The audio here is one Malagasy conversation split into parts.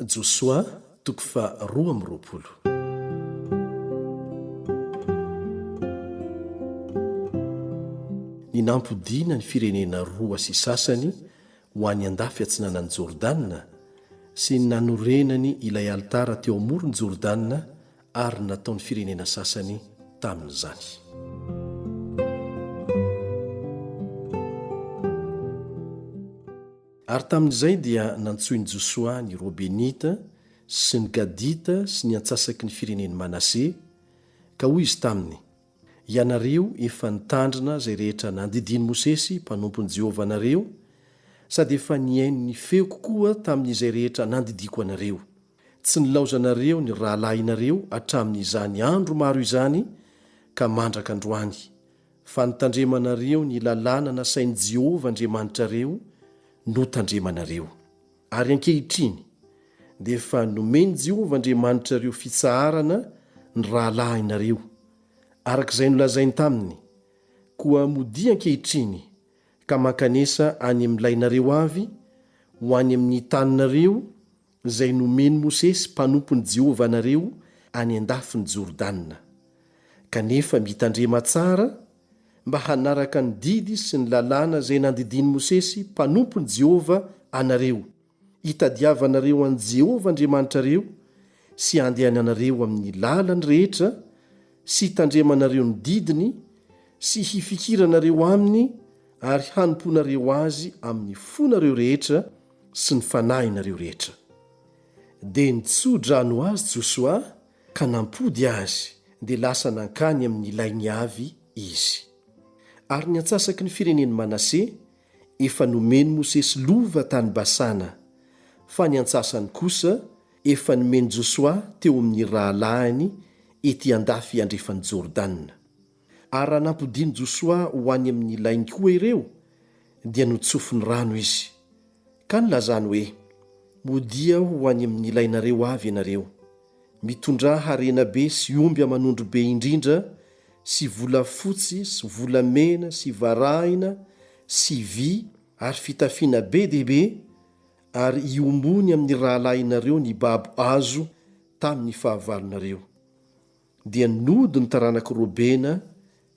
Josoa toko faha roa amby roapolo. Ny nampodiana ny firenena roa sy sasany ho any andafy atsinanan'i Jordana sy ny nanorenany ilay alitara teo amoron'i Jordana ary ny nataon'ny firenena sasany tamin'izany. Ary tamin'izay dia nantsoin'i Josoa ny Robenita sy ny Gadita sy ny antsasaky ny firenen'i Manase, ka hoy izy taminy, Ianareo efa nitandrina izay rehetra nandidian'i Mosesy mpanompon'i Jehovah anareo, sady efa nihaino ny feoko koa tamin'izay rehetra nandidiako anareo. Tsy nilaozanareo ny rahalahinareo hatramin'izany andro maro izany ka mandraka androany, fa ny tandremanareo ny lalàna nasain'i Jehovah Andriamanitrareo notandremanareo. Ary ankehitriny, dia efa nomen'i Jehovah Andriamanitrareo fitsaharana ny rahalahinareo, araka izay nolazainy taminy, koa modia ankehitriny ka mankanesa any amin'ny lainareo avy ho any amin'ny taninareo izay nomen'i Mosesy mpanompon'i Jehovah anareo any an-dafin'i Jordana, kanefa mitandrema tsara mba hanaraka ny didy sy ny lalàna izay nandidian'i Mosesy mpanompon'i Jehovah anareo, hitadiavanareo an'i Jehovah Andriamanitrareo sy handehananareo amin'ny lalany rehetra sy hitandremanareo ny didiny sy hifikiranareo aminy ary hanompoanareo azy amin'ny fonareo rehetra sy ny fanahinareo rehetra. Dia nitsoa-drano azy Josoa ka nampody azy, dia lasa nankany amin' ny lainy avy izy. Ary ny antsasaky ny firenen' i Manase, efa nomen' Mosesy lova tany Basana, fa ny antsasany kosa efa nomen' Josoa teo amin' ny rahalahiny ety an-dafy andrefan' i Jordana. Ary raha nampodian'i Josoa ho any amin'ny lainy koa ireo, dia notsofiny rano izy. Ka nilazany hoe, Modia ho any amin'ny lainareo avy ianareo, mitondrà harena be sy omby aman'ondry be indrindra sy volafotsy sy volamena sy varahina sy vy ary fitafiana be dia be, ary iombony amin'ny rahalahinareo nibabo azo tamin'ny fahavalonareo. dia nody ny taranak'i Robena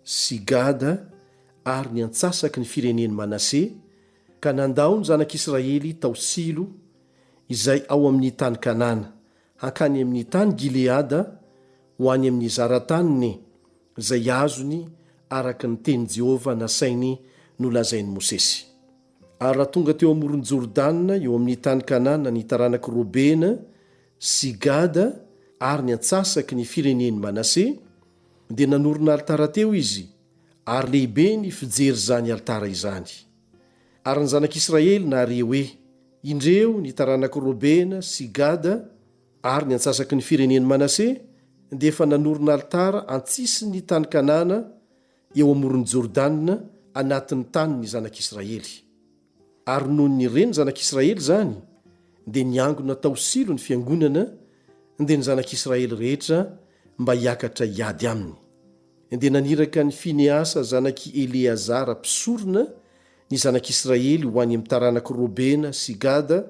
sy Gada ary ny antsasaky ny firenen'i Manase, ka nandao ny zanak'Israely tao Silo, izay ao amin'ny tany Kanana, hankany amin'ny tany Gileada, ho any amin'ny zara-taniny, izay azony araka ny tenin'i Jehovah nasainy nolazain'i Mosesy. Ary raha tonga teo amoron'i Jordana eo amin'ny tany Kanana ny taranak'i Robena sy Gada ary ny antsasaky ny firenen'i Manase, dia nanorina alitara teo izy, ary lehibe ny fijery izany alitara izany. Ary ny zanak'Israely nare hoe, Indreo ny taranak'i Robena sy Gada ary ny antsasaky ny firenen'i Manase dia efa nanorina alitara an-tsisin'ny tany Kanana eo amoron'i Jordana anatin'ny tanin'ny zanak'Israely. Ary nony nire ny zanak'Israely izany, dia niangona tao Silo ny fiangonana, dia ny zanak'Israely rehetra mba hiakatra hiady aminy. Dia naniraka an'i Finehasa zanak'i Eleazara mpisorona ny zanak'Israely ho any amin'ny taranak'i Robena sy Gada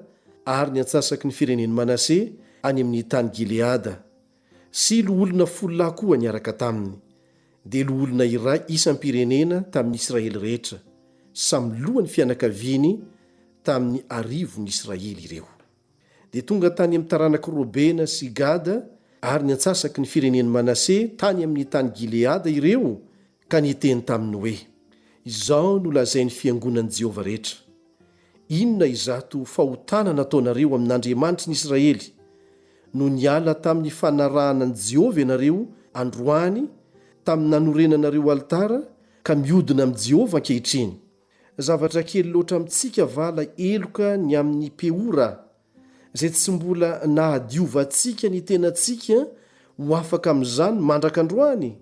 ary ny antsasaky ny firenen'i Manase any amin'ny tany Gileada, sy loholona folo lahy koa niaraka taminy, dia loholona iray isam-pirenena tamin'ny Israely rehetra, samy lohan'ny fianakaviany tamin'ny arivon'ny Israely ireo. Dia tonga tany amin'ny taranak'i Robena sy Gada ary ny antsasaky ny firenen'i Manase tany amin'ny tany Gileada ireo Ka niteny taminy hoe, Izao no lazain'ny fiangonan'i Jehovah rehetra, Inona izato fahotana nataonareo amin'Andriamanitry ny Israely? No niala tamin'ny fanarahana an'i Jehovah ianareo androany, tamin'ny nanorenanareo alitara, ka miodina amin'i Jehovah ankehitriny. Zavatra kely loatra amintsika va ilay heloka ny amin'i Peora? izay tsy mbola nahadiovantsika ny tenantsika ho afaka amin'izany mandraka androany,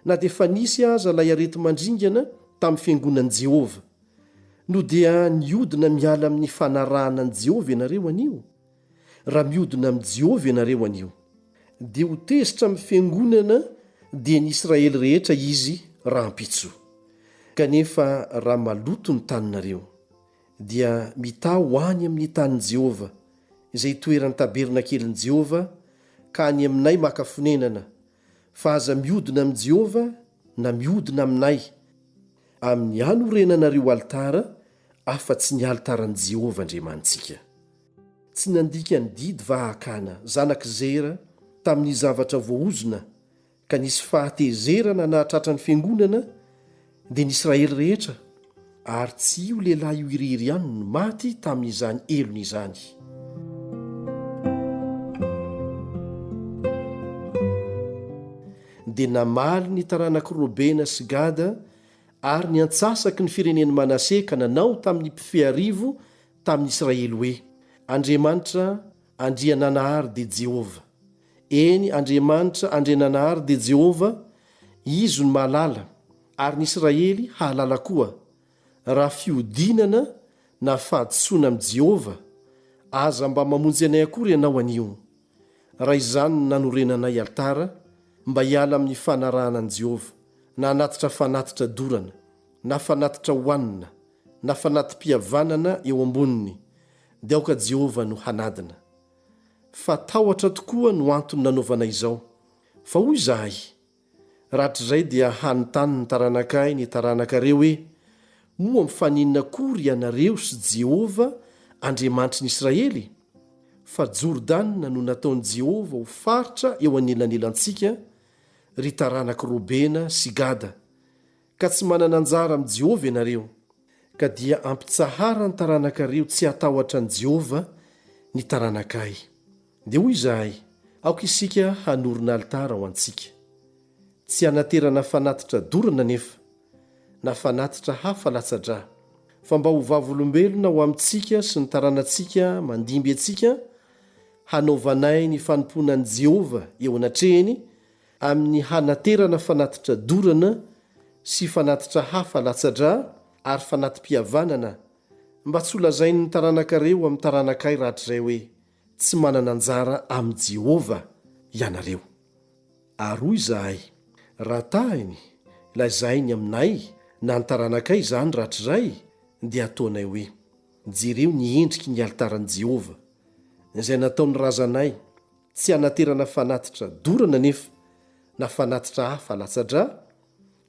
na dia efa nisy aza ilay areti-mandringana tamin'ny fiangonan'i Jehovah. No dia nihodina miala amin'ny fanarahana an'i Jehovah ianareo anio? Raha mihodina amin'i Jehovah ianareo anio, dia ho tezitra amin'ny fiangonana dian'ny Israely rehetra izy rahampitso. Kanefa raha maloto ny taninareo, dia mitaha ho any amin'ny tanin'i Jehovah, izay itoeran'ny tabernakelin'i Jehovah, ka any aminay maka fonenana, fa aza mihodina amin'i Jehovah na mihodina aminay, amin'ny hanorenanareo alitara afa-tsy ny alitaran'i Jehovah Andriamanitsika. Tsy nandika ny didy vahakana zanak'i Zera tamin'ny zavatra voaozona ka nisy fahatezerana nahatratra ny fiangonana dia ny Israely rehetra, ary tsy io lehilahy io irihiry ihany no maty tamin'izany helony izany. Dia namaly ny taranak'i Robena sy Gada ary ny antsasaky ny firenen'i Manase ka nanao tamin'ny mpifehy arivo tamin'ny Israely hoe, Andriamanitra Andriananahary dia Jehovah. Eny, Andriamanitra Andriananahary dia Jehovah, Izy no mahalala, ary ny Israely hahalala koa. Raha fihodinana na fahadisoana amin'i Jehovah, aza mba mamonjy anay akory ianao anio. Raha izany no nanorenanay alitara, mba hiala amin'ny fanarahana an'i Jehovah, na hanatitra fanatitra dorana, na fanatitra hohanina, na fanati-pihavanana eo amboniny, dia aoka Jehovah no hanadina. fa tahotra tokoa no antony nanaovana izao. Fa hoy izahay, Rahatrizay dia hanontany ny taranakay ny taranakareo hoe, 'Moa mifaninona akory ianareo sy Jehovah, Andriamanitry ny Israely? Fa Jordana no nataon'i Jehovah ho faritra eo anelanelantsika, ry taranak'i Robena sy Gada. Ka tsy manana anjara amin'i Jehovah ianareo, ka dia ampitsahara ny taranakareo tsy hatahotra an'i Jehovah ny taranakay. Dia hoy izahay, Aoka isika hanorina alitara ho antsika. Tsy hanaterana fanatitra dorana anefa, na fanatitra hafa latsa-drà, fa mba ho vavolombelona ho amintsika sy ny taranantsika mandimby antsika, hanaovanay ny fanompoana an'i Jehovah eo anatrehany, amin'ny hanaterana fanatitra dorana sy fanatitra hafa latsa-drà ary fanati-pihavanana mba tsy holazain'ny taranakareo amin'ny taranakay rahatrizay hoe tsy manana anjara amin'i Jehovah ianareo. Ary hoy izahay, Raha tahiny, lazainy aminay na ny taranakay izany rahatrizay, dia ataonay hoe, Jereo ny endriky ny alitaran'i Jehovah, izay nataon'ny razanay, Tsy hanaterana fanatitra dorana anefa, na fanatitra hafa latsa-drà,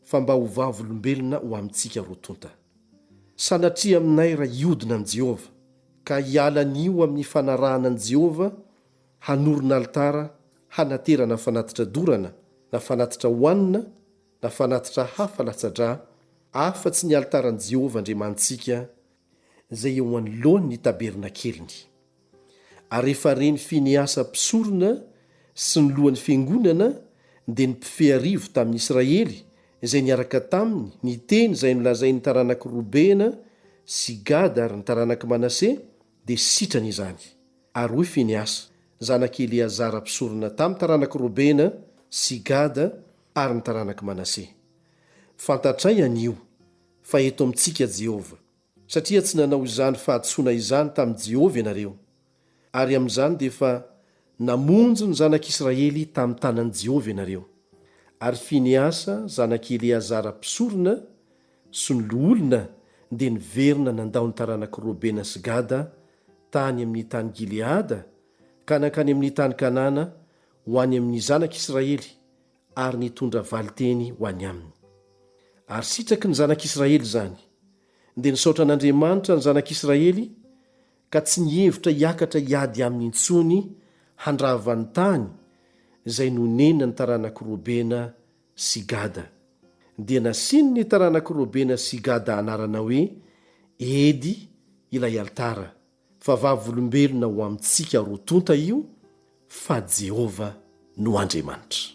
fa mba ho vavolombelona ho amintsika roa tonta. Sanatria aminay raha hiodina amin'i Jehovah, ka hiala anio amin'ny fanarahana an'i Jehovah, hanorina alitara hanaterana fanatitra dorana, na fanatitra hohanina, na fanatitra hafa latsa-drà, afa-tsy ny alitaran'i Jehovah Andriamanitsika izay eo anoloan' ny tabernakeliny. Ary rehefa re ny Finehasa mpisorona sy ny lohan' ny fiangonana dia ny mpifearivo tamin' Israely izay niaraka taminy niteny izay nolazain' ny taranak' Robena sy Gada ary ny taranak' Manase, dia sitrany izany. Ary hoy Finehasa, zanak' i Eleazara mpisorona tamin' ny taranak' Robena sy Gada ary ny taranak' Manase, Fantatray an' io, fa eto amintsika Jehovah, satria tsy nanao izany fahadisoana izany tamin'i Jehovah ianareo, ary amin'izany dia efa namonjy ny zanak'Israely tamin'ny tanan'i Jehovah ianareo, ary Finehasa zanak'i Eleazara mpisorona sy ny loholona dia niverina nandao ny taranak'i Robena sy Gada tany amin'ny tany Gileada ka nankany amin'ny tany Kanana ho any amin'ny zanak'Israely ary nitondra valinteny ho any aminy. Ary sitraky ny zanak'Israely izany, dia nisaotra an'Andriamanitra ny zanak'Israely ka tsy nihevitra hiakatra hiady aminy intsony handrava ny tany izay nonenan'ny taranak'i Robena sy Gada. Dia nasian'ny taranak'i Robena sy Gada anarana hoe Edy ilay alitara, fa vavolombelona ho amintsika roa tonta io fa Jehovah no Andriamanitra.